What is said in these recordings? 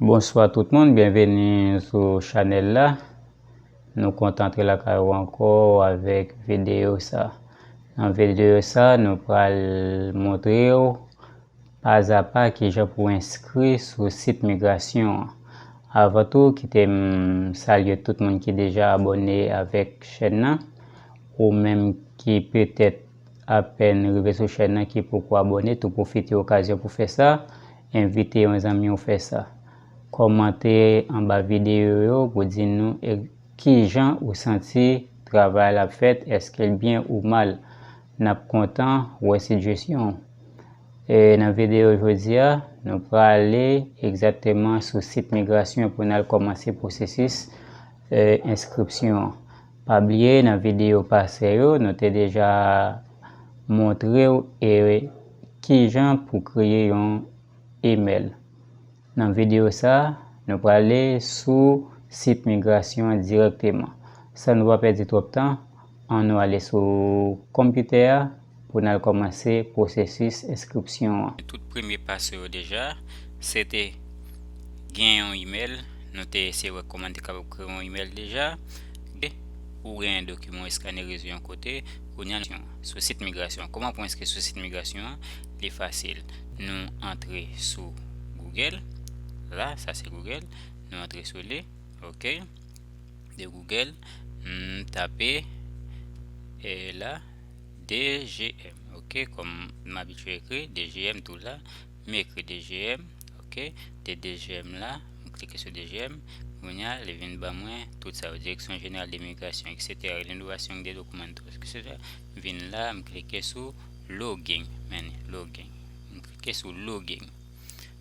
Bonswa tout moun byenveni sou chanèl la nou kontan antre lakay ou ankò avèk videyo sa nan videyo sa nou pral montre ou pazapa kijan pou enskri sou sit migrasyon an avan tou kite m salye tout moun ki deja abòne avèk chèn nan ou menm ki petèt Apèn rive sou chèn nan ki poko abòne tou pwofite okazyon pou fè sa, envite yon zanmi w fè sa. Kòmante anba videyo yo pou di nou kijan ou santi travay la ap fèt eske l byen ou mal. Nap kontan wè sijesyon w. Nan videyo jodi a, nou prale egzakteman sou sit migrasyon pou n al kòmanse pwosesis enskripsyon an. Pa bliye nan videyo pase yo nou te deja montrew e kijan pou kreye yon email. Nan videyo sa nou prale sou sit migrasyon an dirèkteman. San nou pa pèdi twòp tan an nou ale sou konpitè a. pou n al kòmanse pwosesis enskripsyon an. Tout premye pa sou yo deja, se te gen yon imèl, nou te eseye wè kòman n te kapab kreye yon imèl deja, de ou gen dokiman w eskanerize yon kote, kounye a nou sou sit migrasyon an. Kòman pou enskri sou sit migrasyon an? Li fasil, nou antre sou Google, la, sa se Google, nou antre sou li, ok, de Google, n tape, e la. DGM ok kòm m abitye ekri DGM tou la m ekri DGM ok de DGM la m klike sou DGM kounye a li vin ban mwen tout sa yo direksyon jeneral de migrasyon eksetera renouvasyon de dokiman eksetera m vin la m klike sou login men ni login m klike sou login.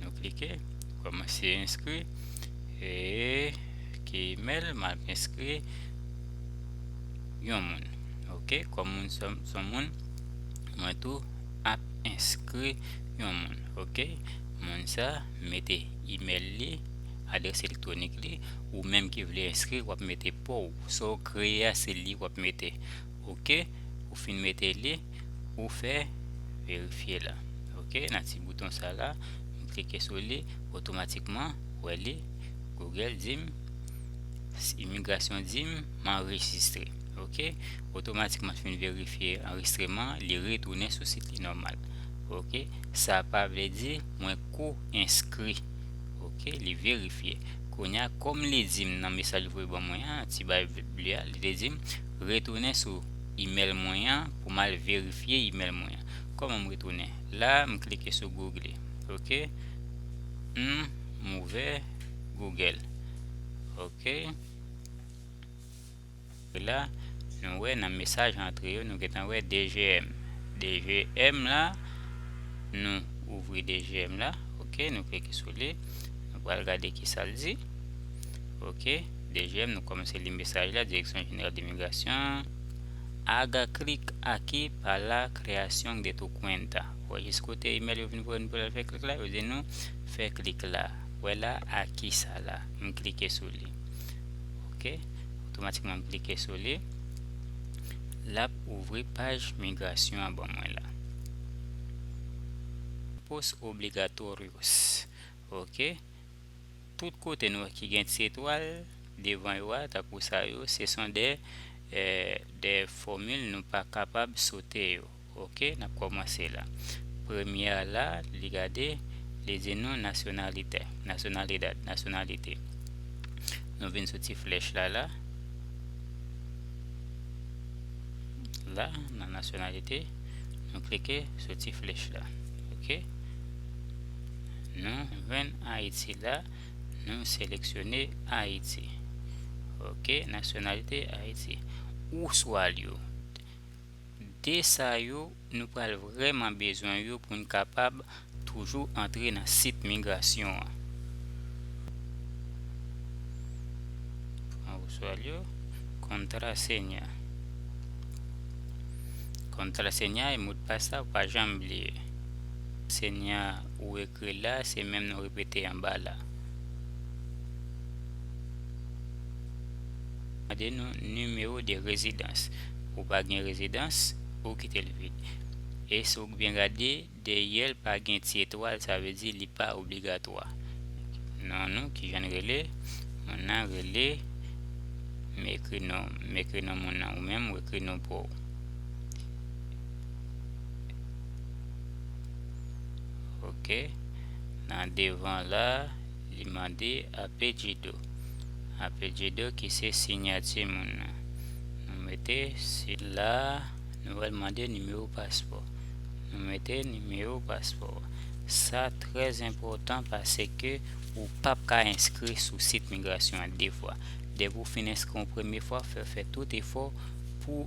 Nou klike komanse enskri e ki email map enskri yon moun ok kom moun son moun mwen tou ap enskri yon moun ok moun sa mete email li adress elektronik li ou menm ki vle enskri wap mete pouw sa ou kreye a se li wap mete ok ou fin mete li ou fè verifye la ok nan ti bouton sa la m klike sou li otomatikman wè li google dim imigrasyon dim m anrejistre ok otomatikman fin verifye anrejistreman li retounen sou sit li nòmal ok sa pa vle di mwen ko enskri ok li verifye kounya kòm li dim nan mesaj li voye ban mwen an ti bay ble a li te dim Retounen sou email mwen an pou m al verifye email mwen an. Kòman m retounen? La a, m klike sou Google. Ok. Humm, m ouvè Google. Ok. La, nou wè nan mesaj antre yo, nou gentan wè DGM. DGM la, nou ouvri DGM la. Ok, nou klike sou li. Nou pral gade ki sa l di. Ok. Dejèm nou kòmanse li mesaj la Direksyon Jeneral de Migrasyon ag klik aki pa la creación de tu cuenta wè jis kote imèl yo vin voye nou pou lal fè klik la yo di nou fè klik la wè la aki sa la m klike sou li ok otomatikman m klike sou li lap ouvri paj migrasyon an ban mwen la pos obligatorios ok. Tout kote nou ki gen ti etwal devan yo a tankou sa yo se son de de fòmil nou pa kapab sote yo ok nap kòmanse la premyè a la li gade li di nou nasyonalitè nasyonalidad nasyonalite nou vin sou ti flèch la la la nan nasyonalite nou klike sou ti flèch la ok. Nan grenn Ayiti la, nou seleksyone Ayiti. Ok, nasyonalite Ayiti. Ou swal yo. De sa yo, nou pral vrèman bezwen yo pou n kapab toujou antre nan sit migrasyon an. Ou swal yo. Kontrasenya. Kontrasenya e modpas la ou pa janm bliye. Senyè a ou ekri la se menm nou repete anba la. Mande nou nimewo de rezidans. Ou pa gen rezidans, ou kite l vid. E si w byen gade, dèyè l pa gen ti etwal sa vle di li pa obligatwa. Non nou ki jan l rele? Moun nan rele M ekri non m. M ekri non moun nan. Ou menm ou ekri non pa w. ok nan devan la li mande apelyido apelyido ki se sinyati moun nan nou mete sila nou wèl mande nimewo paspò nou mete nimewo paspò sa trèz enpotan pase ke ou pap ka enskri sou sit migrasyon an de fwa depi ou fin enskri yon premye fwa fè fè tout efò pou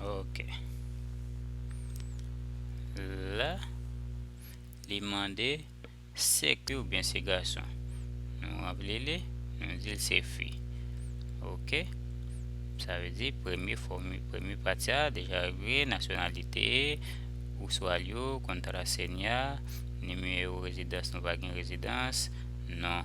Ok. La, li mande se fi ou byen se gason. Nou rempli li, nou di se fi. Ok. Sa ve di premye fomi, premye pati a deja regle, nasyonalite, ou swa li yo, kontra senya, nimewo rezidans nou va gen rezidans, non.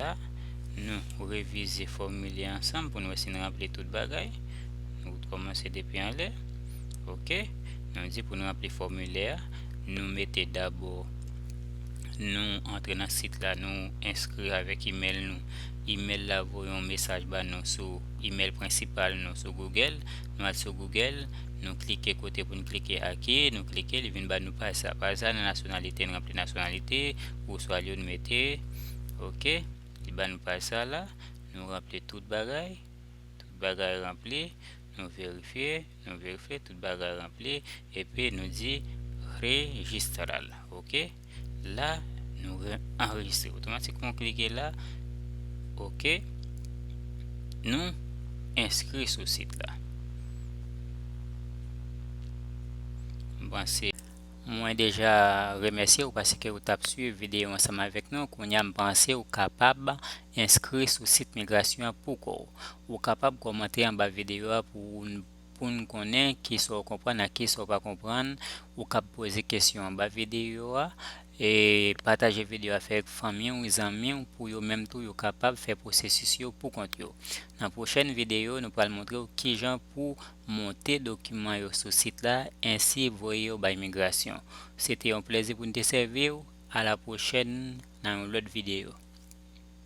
la, nou revize fòmilè a ansanm pou n wè si n ranpli tout bagay. Nou kòmanse depi anlè. Ok. Nou di pou n ranpli fòmilè a, nou mete dabò nou antre nan sit la, nou enskri avèk imèl nou. Imèl la voye yon mesaj ba nou sou imèl prensipal nou sou Google. Nou al sou Google, nou klike kote pou n klike ake, nou klike, li vin ba nou paj sa. Paj sa nan nasyonalite, n ranpli nasyonalite, gwoswa lyon n mete. ok li ba nou paj sa la nou ranpli tout bagay tout bagay ranpli nou verifye nou verifye tout bagay ranpli epi nou di rejistral ok la nou anrejistre otomatikman klike la ok nou enskri sou sit la m panse Mwen deja remèsye ou paske ou tap swiv videyo ansanm avèk nou, kounya m panse ou kapab enskri sou sit migrasyon an pou kò w. Ou kapab kòmante anba videyo a pou w pou n konnen kisa w konprann ak kisa w pa konprann, ou kab poze kesyon anba videyo a, e pataje videyo a avèk fanmi w, zanmi w pou yo menm tou yo kapab fè pwosesis yo pou kont yo. Nan pwochèn videyo nou pral montre w kijan pou Monte dokiman yo sou sit la ensi voye yo bay migrasyon. Se te yon plezi pou n te sèvi w, a la pwochèn nan yon lòt videyo.